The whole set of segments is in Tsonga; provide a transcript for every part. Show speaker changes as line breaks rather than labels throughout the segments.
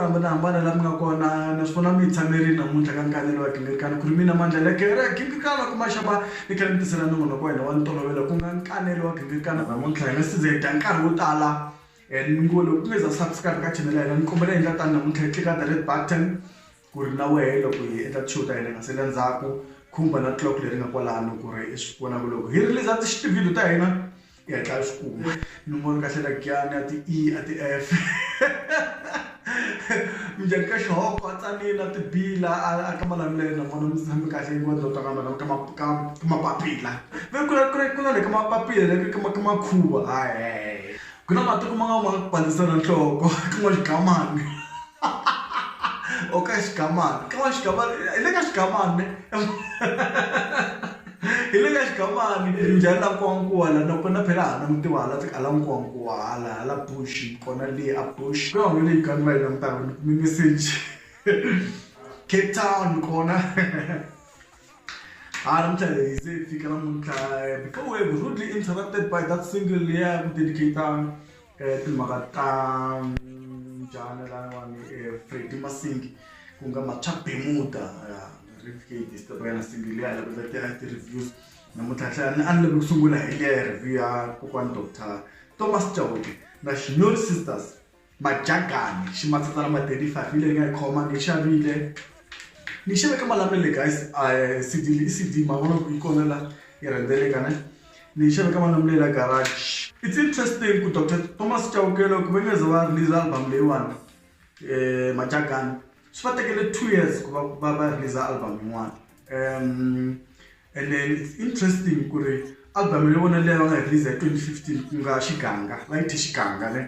hambanahambana la mi nga kona naswona mi yi tshamerile namuntlha ka nkanelo wa gingirikana ku ri mina mandla la kereke gingirikana kuma xava Ni tlhela ni tisela nongonoko wa hina wa ntolovelo ku nga nkanelo wa gingirikana namuntlha. Hi nga si za hi dya nkarhi wo tala and mi ngo loko u nge za subscribe ka channel ya hina ni kombela hi endla tani namuntlha hi tlika the red button ku ri na wehe loko hi endla ti-show ta hina hi nga sali endzhaku khumba na clock leri nga kwalano ku ri i swi vona ku loko hi release ti-video ta hina ya dlaya swikumu nomboro kahle la giyani a ti-e a ti-f minjhani ka xihoko a tsanile a tibila a ka malamulelo vona mi tshame kahle yi wona dota kambe ka mapapila ve ku ku na le ka mapapila le ka ka makhuva hayi ku na matiko ma nga ma bandzisana nhloko ka n'wa xigamani o ka xigamani ka n'wa xigamani hi le ka xigamani Hi le ka Xigamani, Brinjani la Nkowankowa la na kona phela ha langutiwa hala tsika hala Nkowankowa hala hala bush kona lee a bush ka holo leyi gang va yi langutaka ni kume message Cape Town kona ha namuntlha hi ze hi fika namuntlha before we were rudely interrupted by that single ya ku dedicate-a timhaka ta njhani laniwani fredi masingi ku nga matswa bemuda rivkdstbanasingi leyi a lavela tiyana ti-reviews namuntlha tlhela ni a ni lave ku sungula hi liya ya review ya kokwani doctor thomas chauke na xinori sisters majagani ximatsatsa lama 35 yi leyi nga yi khoma ni xavile ni xaveke malamulele guys cd i cd mavona ku yi kona la yi rhendzeleka ne Ni yi xave ka Malamulele a garage. It's interesting ku Doctor Thomas Chawukela ku ve ni ze va release album leyiwani um Majagana swi va tekele two years ku va va va release album yin'wana um and then it's interesting ku ri album ya vona leyi va nga yi release hi twenty fifteen ku nga Xiganga va yi thye Xiganga ne.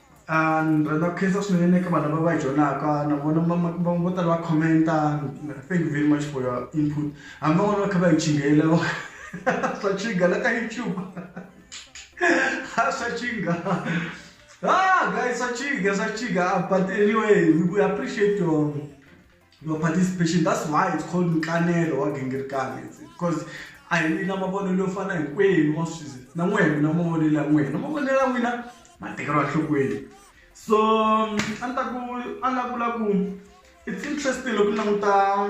Ni rhandza ku khensa swinene eka vanhu lava va yi joyinaka na vona vo tala va comment-a thank you very much for your input hambi van'wana va kha va yi chingela swa chinga la ka YouTube swa chinga guys swa chinga swa chinga but anyway we appreciate your. your participation that's why it's called nkanelo wa gingirikana because a hi wina mavonelo yo fana hinkwenu wa swi na n'we mina mavonelo ya n'wina mavonelo ya n'wina ma tekeriwa enhlokweni so a ni ta ku a nga vula ku it's interesting loko ni languta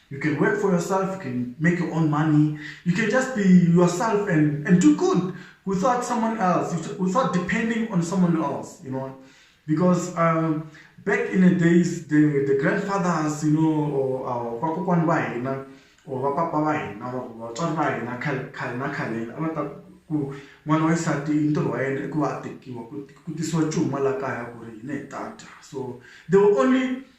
You can work for yourself, you can make your own money, you can just be yourself and, and do good without someone else, without depending on someone else, you know. Because um, back in the days, the, the grandfathers, you know, or our Pakokwan Bai, you know, or Papa Bai, or Chon Bai, you know, Kalina Kalil, Amata ku n'wana wa xisati i ntirho wa yena i ku va a tekiwa ku tisiwa cuma la kaya ku ri yini hi ta dya so they were only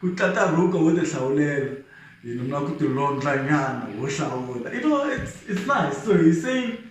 ku tlata rhoko wo ti hlawulela you know na ku ti londla nyana wo hlawula you know it's it's nice so he saying.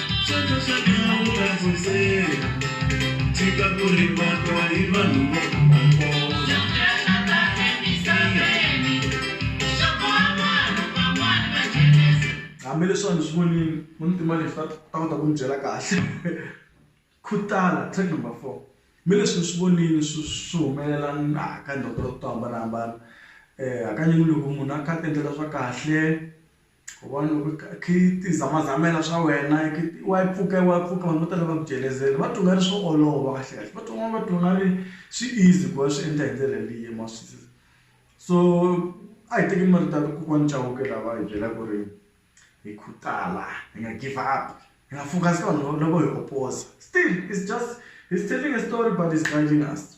Hambileswi a ndzi swi vonile muntima lexi ta ta kota ku ndzi byela kahle khutala track number four me leswi ni swi vonile swi swi humelela na ka to hambanahambana hakanyingi loko munhu a kha a ti endlela swa kahle. U vona loko i kha i kha i ti zamazamela swa wena i wa yi pfuka wa pfuka vanhu vo tala va ku jelezela va twa nga ri swo olova kahlekahle va twa va twa nga ri swi easy ku va swi endla hi ndlela yaleyo ma swi twisisa so a hi tekeni marito ya kokwana Chauke laha va hi byela ku ri hi khutala hi nga give up hi nga focus ka vanhu lava lavo hi oposer still is just he's telling a story but he's guiding us.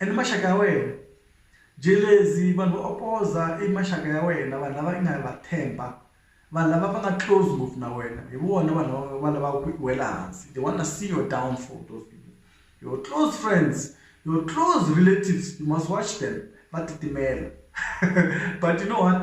and maxaka ya wena jelezi vanhu vo opoza i maxaka ya wena vanhu lava i nga va themba vanhu lava va nga close ngopfu na wena hi vona vanhu lava va lavaka ku wela hansi they wanna see your downfall those people your close friends your close relatives you must watch them va titimela but you know what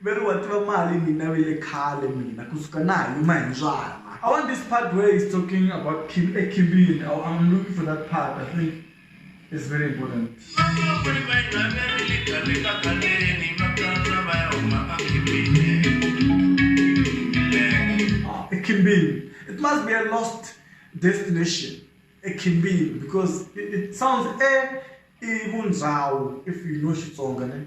Veri wa tiva mali mina vile khale mina kusuka na ha yima hi mbyana. I want this part where he's talking about Kim ekhimbini I am looking for that part I think it's very important. Vatukulu va hina va rile khale ka khaleni va kandza va ya huma a khimbini milenge. Ah ekhimbini it must be a lost destination ekhimbini because it sounds e i vundzawu if you know Xitsonga ne.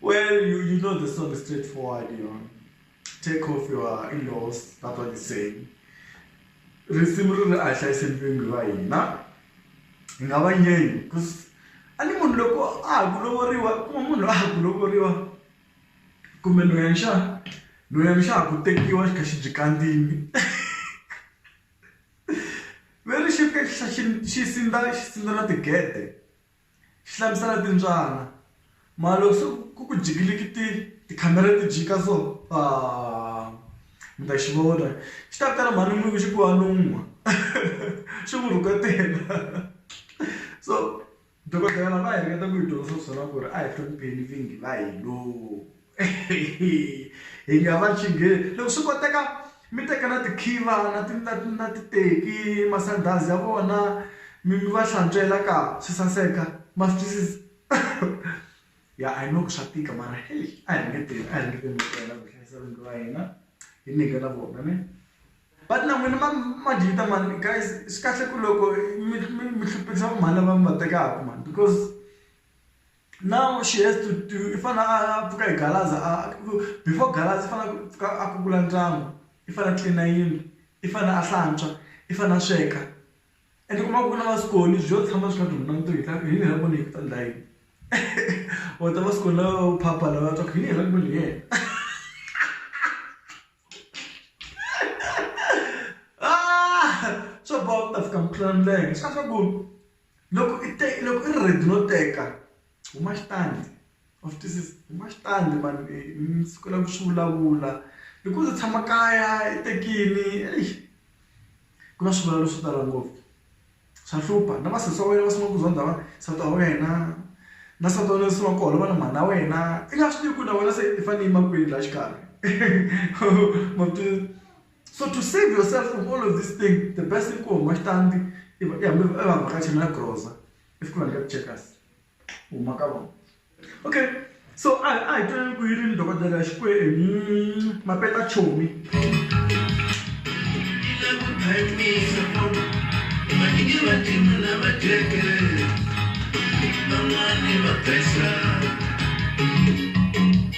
Well, you, you know the song is straightforward, you know. Take off your in-laws, that's what it's saying. Risimu ri ri a hlayisa mpingu va hina. Hi nga va nyeni, because a ni munhu loko a ha ku lovoriwa, kuma munhu a ha ku lovoriwa. Kumbe loya nxaa, loya nxaa ku tekiwa xi kha xi byi kandziyini. Ve ri xi fika xi xi sindza xi sindza na tigede. Xi hlamusela timbyana. Mara loko se ku ku jikilikiti tikhamera ti jika so mi ta xi vona. Xi ta vitana mhani n'wini xi ku hanuhwa xi n'wi rhuketela. So dokodela va hi ringeta ku hi dyondzisa swona ku ri a hi hlonipheni vingi va hina. hi nga va chingeni loko swi koteka mi teka na tikhiva na ti na na titeki masandhazi ya vona mi mi va hlantswela ka swi saseka ma swi twisisa ya I know ku swa tika mara heyi a hi nge tirhi a hi ringekeni ku tirha ku hlayisa rhandi ra hina hi nyikela vona ne but na n'wina ma ma dyi vita mani guys swi kahle ku loko mi mi mi hluphekisa va mhani lava mi va tekaka mani because. Now she has to, to i fana a pfuka hi galaza a before galaza i fana ku pfuka a kukula ndyangu i fana tlilina yindlu i fana a hlantswa i fana sweka and kuma ku na vasikoni byo tshama swi nga duma na vutomi hi yini hi vona hi ta ndla yini or ta vasikoni lava u phapha lava twa hi yini hi ku ni yena ah swa boha ku ta fika mukhulela milenge swa swa ku Loko i te loko i ri ready no teka huma xitandi wa swi twisisa huma xitandi mhani mi sukela ku swi vulavula hi ku u tshama kaya i tekile exi ku na swivilelo swo tala ngopfu swa hlupha na va sesi wa wena va sungula ku zondha va nsati wa wena na nsati wa wena u sungula ku holova na mhani na wena i nga swi tivi ku na wena se i fanele i yima kwini laha xikarhi ma swi tiva. So to save yourself from all of this thing, the best thing kuhuma xitandi i va- i hambi i va vhakachela na groza if ku va nyika ti-checkers huma ka vona okay so a a hi twaneni ku yi ri ni dokodela xikwembu mapeta chomi Van'wani va pesa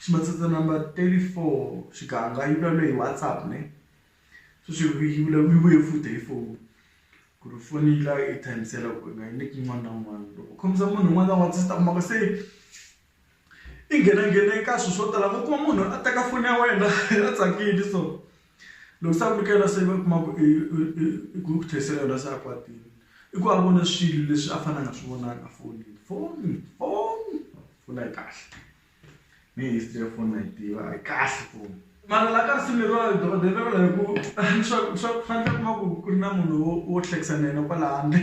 Ximatsatsa number 34 xiganga yi vulavula hi WhatsApp ne sweswi yi vulavula yi vuye futhi hi foni ku ri foni yi la yi tshamisela ku nga yi nyiki un'wana na un'wana loko khomisa munhu un'wana na un'wana swi ta kuma ku se i nghenanghene eka swilo swo tala u kuma munhu a teka foni ya wena a tsakile so loko se a ku nyikela se va kuma ku i ku ku tlherisela yona se a kwatile i ku a vona swilo leswi a fanele a nga swi vonangi efonini foni foni foni a yi kahle. ni history ya phone na yi tiva a yi kahle phone mara la ka risimu leriwa dokodela ri vula hi ku swa swa ku fanele kuma ku ku ri na munhu wo wo hlekisa na yena kwala handle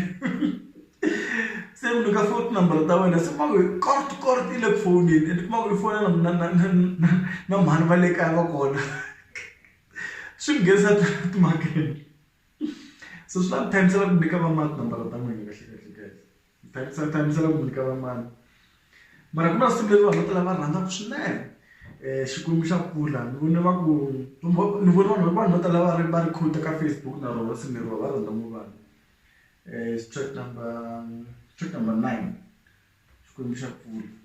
se mi nyika foni tinambara ta wena se kuma ku kort kort yi le ku fowuneni ende kuma ku i fona na na na na na mhani va le kaya va kona swi mi nghenisa timhakeni so swi la ku times-ela ku nyika va mani tinambara ta n'wina kahlekahle guys. Tsa tshamisela ku nyika van'wana mara ku na siku leri vanhu vo tala va rhandzaka swinene um xikwembu xa kula ni vone va ku ni vone vanhu vanhu vo tala va ri va ri quote-a ka Facebook na rona risimu leriwa va rhandza ngopfu vanhu um track number track number nine xikwembu xa kula.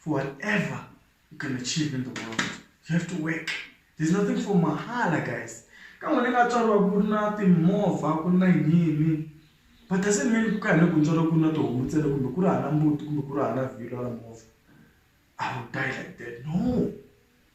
for whatever you can achieve in the world you have to work there's nothing for mahala guys ka n'wina nga tswariwa ku ri na timovha ku ri na yini but doesn't mean ku ka hina ku tswariwa ku ri na tihomu ntsena kumbe ku ri hava mbuti kumbe ku ri hava vhilwa ra movha i will die like that no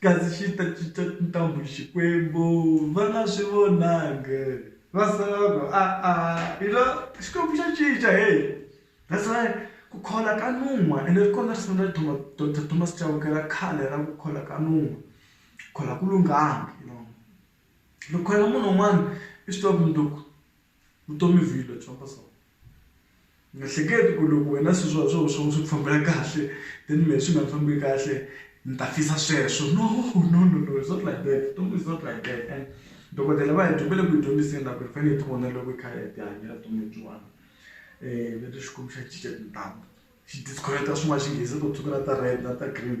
Kasi xi ta cinca tintambhu hi Xikwembu, va nga swi vonangi. Va sala va ku, A-a, hi lo, Xikwembu xa cinca, hey! That's why ku khola ka nun'hwa, ene ri kona risimu ra Doctor Thomas Chauke ra khale ra ku khola ka nun'hwa. Ku khola a ku lunghanga, you know. Loko u kholela munhu un'wana, i swi tiva ku mundzuku vutomi vhilwa byi famba so. Ni nga hleketi ku loko wena se swa swo swo swi ku fambela kahle then mehe swi nga ni fambeli kahle ni ta fisa sweswo no no no no it's not like that vutomi is not like that and dokodela va hi va le ku hi dyondziseni na ku hi fane hi ti vonela loko hi kha hi ya ti hanyela vutomi lebyiwani va ri Xikwembu xa cinca tintambu xi disconnect-a swin'wana xinghezi to tshuka na ta red na ta green.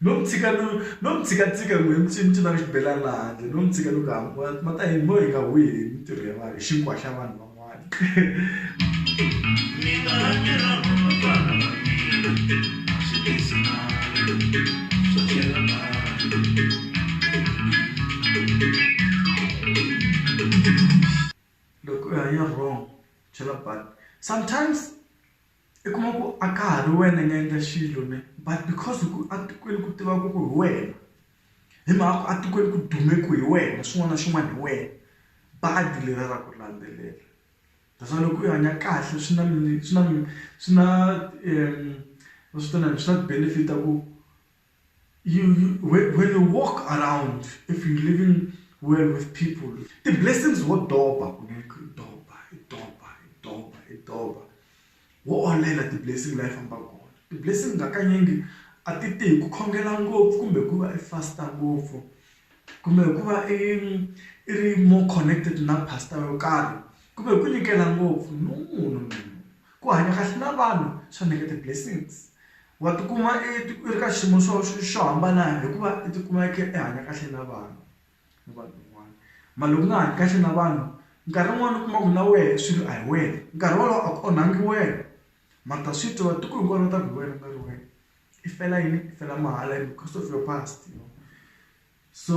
No mi tshika no no mi tshika tshika ku mi mi cinaka xibelani laha handle no mi tshika loko hambi ma ta yini mo hi nga huhi hi mintirho ya vanhu hi xinkwa xa vanhu van'wana ni nga ni ra vana va mina a swi tisi mali swo chela loko u hanya wrong chela sometimes. I kuma ku a ka ha ri wena i nga endla xilo ne but because ku etikweni ku tiva ku ku hi wena hi mhaka ku etikweni ku dume ku hi wena xin'wana na xin'wana hi wena badi leriya ra ku landzelela that's why loko u hanya kahle swi na swi na swi na va swi vitanaka swi na benefit ya ku. you, you when, when you walk around if you're living well with people the blessings what doba doba doba doba doba what online at the blessing life amba God the blessing ngakanyingi atite kukhongela ngopfu kumbe kuva i faster ngopfu kumbe kuva i iri more connected na pastor yo karhi kumbe ku nyikela ngopfu no no no ku hanya kahle na vanhu swa nyika the blessings Wa tikuma i ri ka xiyimo xo xo xo hambana hikuva i tikuma i kha i hanya kahle na vanhu ni vanhu van'wana mara loko u nga hanyi kahle na vanhu nkarhi wun'wani u kuma ku na wehe swilo a hi wena nkarhi wolowo a ku onhangi wena mara ta swi twa va tiko hinkwaro va ta ku hi wena ku nga ri wena i fela yini i fela mahala because of your past so.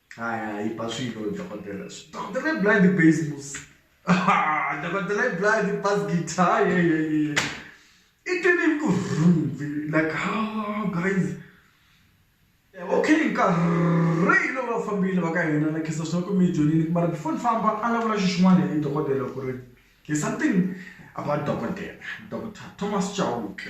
hayi hayi ba swilo dokodela dokodela i blind base mus dokodela i blind bas guitar ye ye ye i twini ku rhumbi like oh guys okay nkarhi lowu va fambile va ka hina na khensa swinene ku mi yi dyondzile mara before ni famba a ni vula xi xin'wana hi dokodela ku ri there's something about dokodela doctor Thomas Chauke.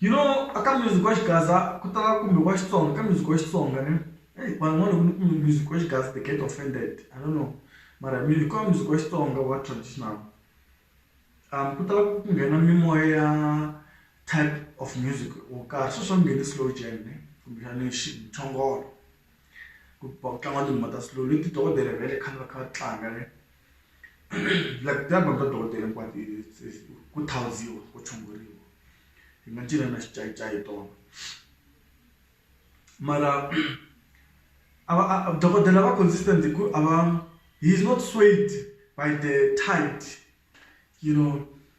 you know aka music wa xigaza ku tala kumbe wa xitsonga ka music wa xitsonga ni eyi vanhu n'wana loko ni kumbe music wa xigaza they get offended i don't know mara music wa music wa xitsonga wa traditional um ku tala ku nghena mimoya ya type of music wo karhi sweswi swa nghene slow jam ne kumbexani xichongolo ku tlanga tinghoma ta slow leti dokodela va le khale va kha va tlanga ne. like ti album ta dokodela hinkwato ku thawuziwa ku tshunguriwa hi nga cina na xincayincayi hi tona mara a va a dokodela va consistent hi ku a va he is not swayed by the tide you know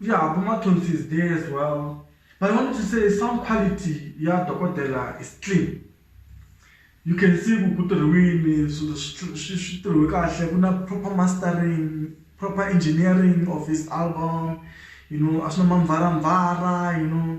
Yeah, kuma thonsi is there as well. But I wanted to say sound quality ya Dokodela is clean. You can see kutirhiwini switirhiwe kahle ku na proper mastering, proper engineering of his album, you know, a swi na mamvaramvara, you know.